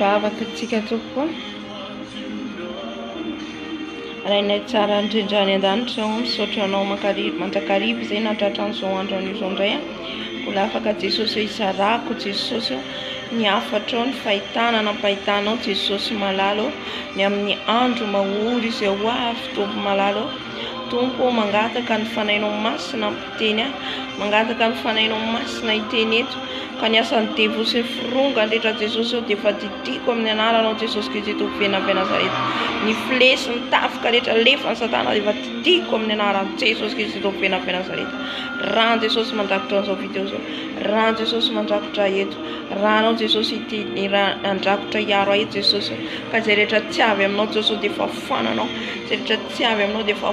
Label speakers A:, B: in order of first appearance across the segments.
A: Vavaka tsika tompoko Rainay tsara indrindra any an-danitra oh, misaotra anao mandrakariva izay natratra an'izao andro an'izao indray ah. Mbola afaka Jesosy hoe izarako Jesosy oh, ny hafatrao ny fahitana nampahitanao Jesosy malala oh, ny amin'ny andro mahory izay ho avy Tompo malala oh. Tompo mangataka ny fanainao masina Teny aho, mangataka ny Fanahinao Masina hiteny eto, ka ny asan'ny devoly sy ny fironga handretra Jesosy eo dia efa didiko amin'ny Anaranao Jesosy Kristy Tompo Venina avy Nazareta. Ny fle sy ny tafika rehetra alefan'i Satana dia efa didiko amin'ny Anaran'i Jesosy Kristy Tompo Venina avy Nazareta. Ran'i Jesosy mandrakotra an'izao video izao. Ran'i Jesosy mandrakotra ahy eto. Ranao Jesosy hiteny, handrakotra hiaro ahy Jesosy. Ka izay rehetra tsy avy aminao Jesosy dia efa foananao. Izay rehetra tsy avy aminao dia efa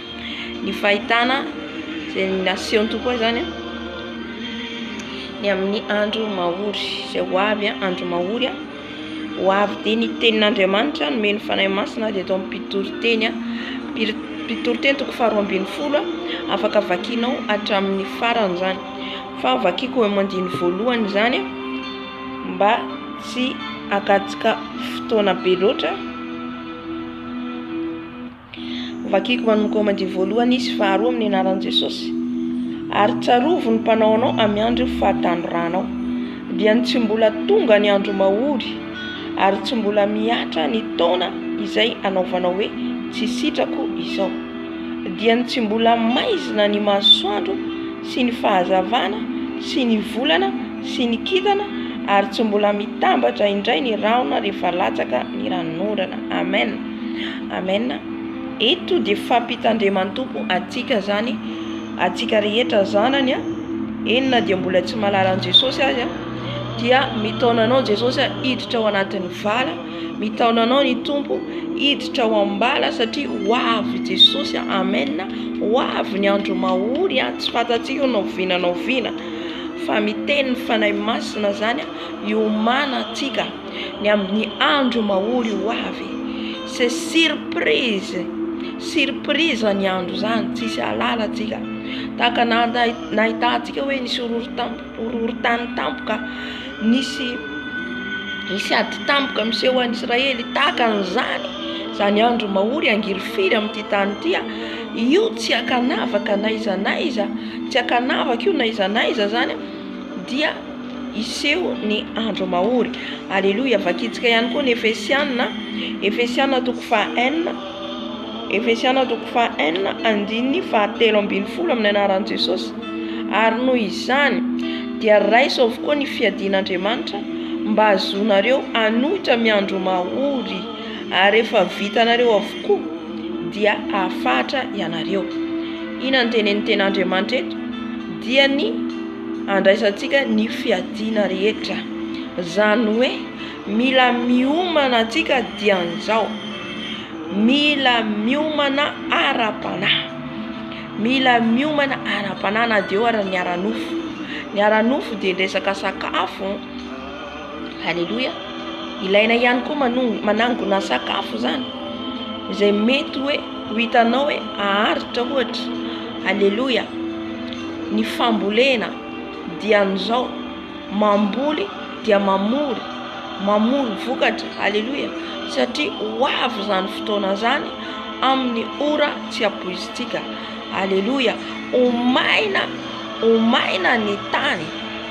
A: ny fahitana izay nasehon'ny Tompo ahy izany ny amin'ny andro mahory izay ho avy andro mahory ho avy dia ny tenin'Andriamanitra nomeny Fanahy Masina dia eto am-pitoriteny am-pitoriteny toko faharoa ambin'ny folo afaka vakinao hatramin'ny farany izany fa vakiko amin'ny andininy voalohany izany mba tsy hakatsika fotoana be loatra Vakiko manomboka ao Madiy voalohany izy faharoa amin'ny anaran'i Jesosy. Ary tsarovo ny mpanao anao amin'ny andro io fahatanoranao. Dia ny tsy mbola tonga ny andro mahory ary tsy mbola mihatra ny taona izay anaovanao hoe tsy sitrako izao. Dia ny tsy mbola maizina ny masoandro sy ny fahazavana sy ny volana sy ny kintana ary tsy mbola mitambatra indray ny rahona rehefa latsaka ny ranonorana. Amen. Amen eto dia fampitandreman'tompo atsika zany atsika rehetra zanany a eny na dia mbola tsy malala an'i jesosy azy a dia mitaona anao jesosy a hiditra ao anatin'ny vala mitaona anao ny tompo hiditra ao ambala satria ho avy jesosy a amen ho avy ny andro mahory a tsy fantatsika ho nao vina nao vina fa miteny ny fanahy masina zany a hiomana atsika ny amin'ny andro mahory ho avy se surprise surprise ny andro zany tsisy alala tsika tahaka nahitantsika hoe nisy horohorontany tampoka nisy nisy ady tampoka miseho any Israely tahaka an'izany zany andro mahory angirifiry amin'ity tany ity io tsy ankanavaka na iza na iza tsy ankanavaka io na iza na iza zany dia hiseho ny andro mahory. Aleloia! Vakintsika ihany koa ny Efesiana, Efesiana toko faha enina, Efesiana toko faha enina, andininy faha telo ambin'ny folo amin'ny anaran'i Jesosy. Ary noho izany dia raiso avokoa ny fiadian'Andriamanitra mba hahazoanareo hanohitra amin'ny andro mahory, ary rehefa vitanareo avokoa dia hahafahatra ianareo. Inona no tenenin'ny Tenin'Andriamanitra eto? Dia ny handraisantsika ny fiadiana rehetra. Izany hoe mila miomana antsika dian'izao, mila miomana ara-panahy, mila miomana ara-panahy na dia eo ary ny ara-nofo, ny ara-nofo dia ny resaka sakafo. Aleloia! Ilaina ihany koa manong- manangona sakafo zany izay mety hoe ho hitanao hoe aharitra ohatra. Aleloia! Ny fambolena dia an'izao, mamboly dia mamory, mamory vokatra. Aleloia! Satria ho avy izany fotoana zany amin'ny ora tsy ampoizintsika. Aleloia! Ho maina, ho maina ny tany.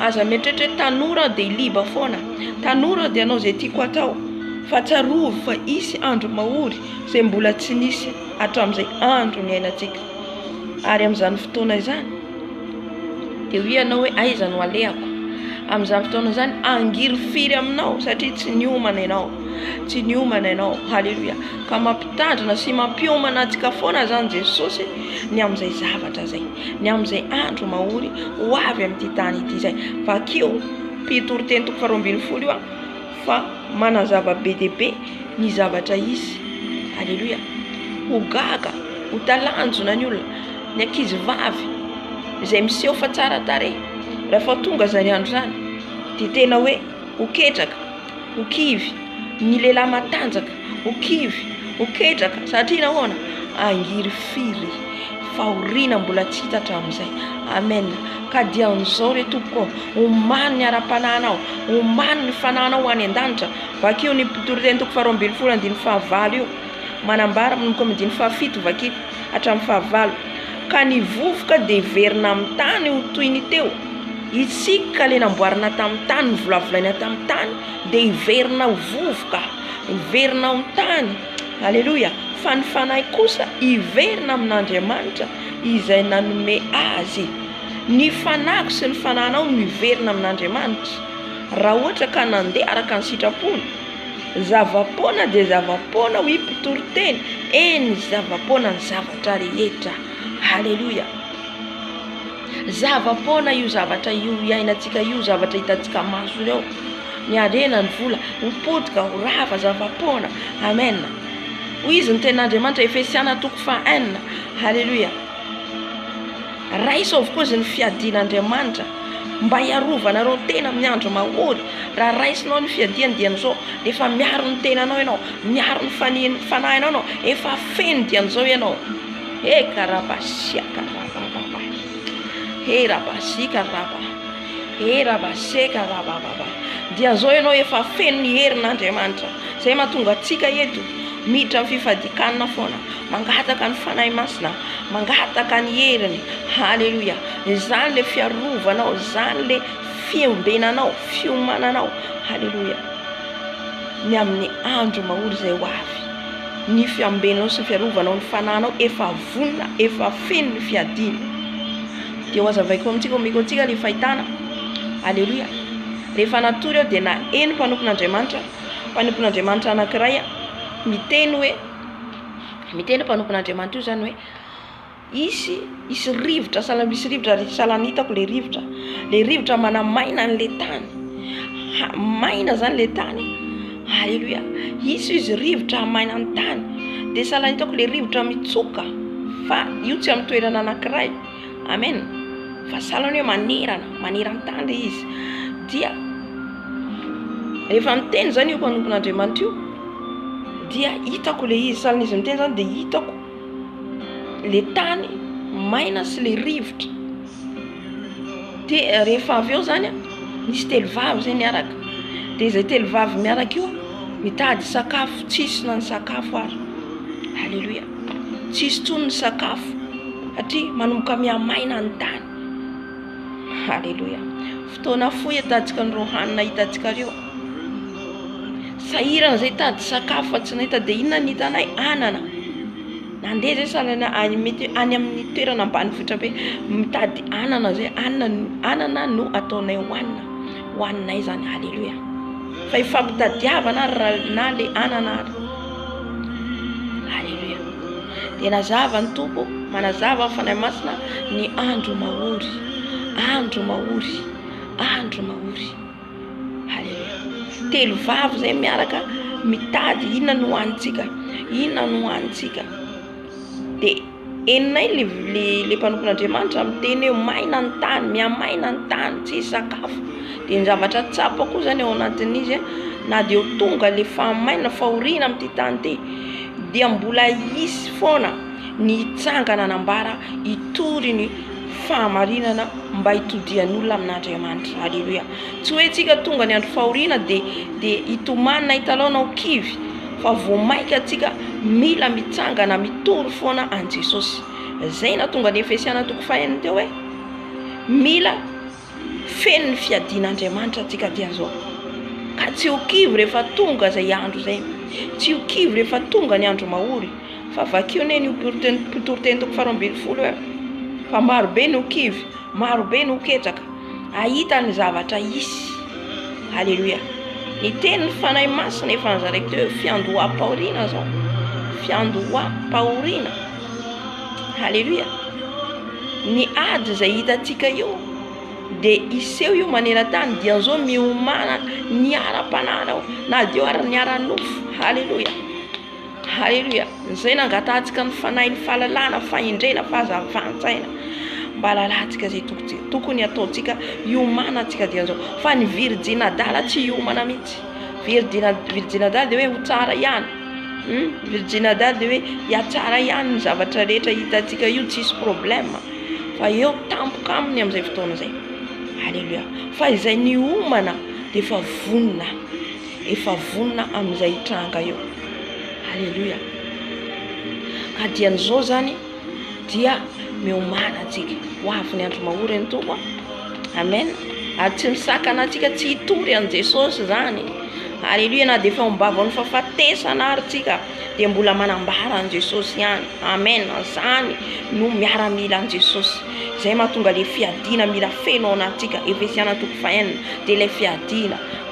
A: Aza mieritreritra hoe tanora aho dia liba foana. Tanora aho dia hanao izay tiako hatao. Fa tsarovy fa hisy andro mahory izay mbola tsy nisy hatramin'izay andro niainantsika. Ary amin'izany fotoana izany dia hoy ianao hoe aiza no alehako. Amin'izany fotoana izany hangirifiry aminao satria tsy niomana ianao. Tsy niomana ianao. Haleloia. Ka mampitandrina sy mampiomana antsika foana izany Jesosy ny amin'izay zavatra izay. ny amin'izay andro mahory ho avy amin'ity tany ity izay. Vakio Mpitoriteny toko faharoa ambin'ny folo io fa manazava be dia be ny zavatra hisy. Aleloia. Ho gaga, ho talanjona ny olona, ny ankizy vavy izay miseho fa tsara tarehy. Rehefa tonga izany andro izany dia tena hoe ho ketraka. ho kivy ny lehilahy matanjaka, ho kivy, ho ketraka, satria nahoana? Angiry firy fahoriana mbola tsy hita hatramin'izay. Amen. Ka dia amin'izao re tompoko ô, omano ny ara-panahinao, omano ny fanahinao ho any an-danitra. Vakio ny mpitoriteny toko faharoa ambin'ny folo andininy fahavalo io, manambara manomboka amin'ny andininy fahafito, vakio. hatramin'ny fahavalo, ka ny vovoka dia hiverina amin'ny tany ho toy ny teo, isika ka ilay namboarina tamin'ny tany, novolavolaina tamin'ny tany dia hiverina ho vovoka, hiverina amin'ny tany, aleloia, fa ny fanahy kosa hiverina amin'Andriamanitra izay nanome azy, ny fanahiko sy ny fanahinao no hiverina amin'Andriamanitra, raha ohatra ka nandeha araka ny sitrapony. Zava-poana dia zava-poana hoy mpitory teny, eny zava-poana ny zavatra rehetra. Haleloia. Zava-poana io zavatra io iainantsika io, zavatra hitantsika maso ireo. Ny harena, ny vola, ho potika, ho rava, zava-poana. Amen. Hoy izy ny tenin'Andriamanitra, Efesiana toko faha enina. Haleloia. Raiso avokoa izy ny fiadian' Andriamanitra mba hiarovanareo ny tena amin'ny andro mahory. Raha raisinao ny fiadiany dia amin'izao efa miaro ny tenanao ianao, miaro ny fanian'ny fanahinao ianao, efa feno dia amin'izao ianao. He karaba siaka rabababa he raba sika raba he raba seka rabababa dia amin'izao ianao efa feno ny herin'Andriamanitra izay mahatonga antsika eto miditra amin'ny fifadian-kanina foana. Mangataka ny Fanahy Masina aho, mangataka ny heriny, haleloia, izany le fiarovanao, izany le fiombenanao, fiomananao, haleloia, ny amin'ny andro mahory izay ho avy, ny fiambenanao sy ny fiarovanao ny fanahinao efa vonona, efa feno ny fiadiana, dia ho azavaiko amintsika, omeko antsika le fahitana, haleloia, rehefa natory aho dia naheno mpanompon'Andriamanitra, mpanompon'Andriamanitra anankiray miteny hoe. Miteny mpanompon'Andriamanitra io izany hoe hisy hisy rivotra sahala misy rivotra ary sahala ny hitako ilay rivotra, ilay rivotra manamaina an'ilay tany, maina izany ilay tany aleloia hisy izy rivotra hamaina ny tany dia sahala ny hitako ilay rivotra mitsoka fa io tsy amin'ny toerana anankiray. Amen vazaha ny hoe manerana maneran-tany le izy dia rehefa miteny zany io mpanompon'Andriamanitra io dia hitako le izy sahalan'izy miteny zany dia hitako le tany maina sy le rivotra de eh, rehefa avy eo zany a nisy telo vavy zay niaraka de izay telo vavy miaraka io mitady sakafo tsisy na ny sakafo ary aleloia tsy hisy intsony ny sakafo satria manomboka mihamaina ny tany. Aleloia. Fotoana fohy hitantsika an'ireo hanina hitantsika ireo. Sahirana izay hitady sakafo fa tsy nahita dia inona no hitanay? Anana. Nandeha izay sanana any mety any amin'ny toerana ambanivohitra be mitady anana izay anana anana no ataonay hohanina. ho aninay izany haleloia fa ifampitadiavana ary raha na le anana ary haleloia dia nazava ny tompo manazava ny fanahy masina ny andro mahory andro mahory andro mahory haleloia telo vavy zay miaraka mitady inona no hanintsika inona no hanintsika dia Henonay le le le mpanompon'Andriamanitra miteny hoe maina ny tany, mihamaina ny tany, tsisy sakafo. Dia ny zavatra tsapa koa zany ao anatin'izy a, na dia ho tonga le fahamainana, fahoriana amin'ity tany ity, dia mbola hisy foana ny hitsangana hanambara hitory ny fahamarinana mba hitodihan'olona amin'Andriamanitra. Aleloia. Tsy hoe antsika tonga ny andro fahoriana dia dia hitomany na hitalaona ho kivy, fa vao mainka antsika mila mitsangana mitory foana an'i Jesosy. Izay nahatonga ny Efesiana toko fahenina teo hoe mila feno ny fiadian'Andriamanitra antsika dia zao, ka tsy ho kivy rehefa tonga izay andro izay, tsy ho kivy rehefa tonga ny andro mahory, fa vakio anie ny mpitoriteny toko faharoa ambin'ny folo hoe fa marobe ny ho kivy. Maro be no ketraka ahita ny zavatra hisy. Aleloia. Ny tenin'ny Fanahy Masina efa nozaraiko teo fiandoham-pahoriana zao. Fiandoham-pahoriana. Aleloia. Ny ady izay hitantsika io dia hiseho io maneran-tany dia zao miomana ny ara-panahinao na dia eo ary ny ara-nofo. Aleloia. Haleloia! Izay nangatantsika ny Fanahy, ny fahalalana, fahendrena, fahazavan-tsaina, mba halalantsika izay tokony hataontsika hiomanantsika dikan'izao. Fa ny virijina adala tsy hiomana mihitsy. Virijina virijina adala dia hoe ho tsara ihany. Virijina adala dia hoe hihatsara ihany ny zavatra rehetra hitantsika io tsisy problema. Fa eo tampoka aminy amin'izay fotoana izay. Haleloia! Fa izay niomana dia efa vonona. efa vonona amin'izay hitranga eo. Aleloia. Adian'izao zany dia miomana antsika. Ho avy ny andro mahory ny Tompo. Amen. Ary tsy misakana antsika tsy hitory an'i Jesosy zany. Aleloia na dia efa ombavan'ny fahafatesana ary tsika dia mbola manambara an'i Jesosy ihany. Amen. Zany no miaramila an'i Jesosy. Izay mahatonga le fiadiana mila feno ao anatintsika. Efesiana toko fahenina dia ilay fiadiana.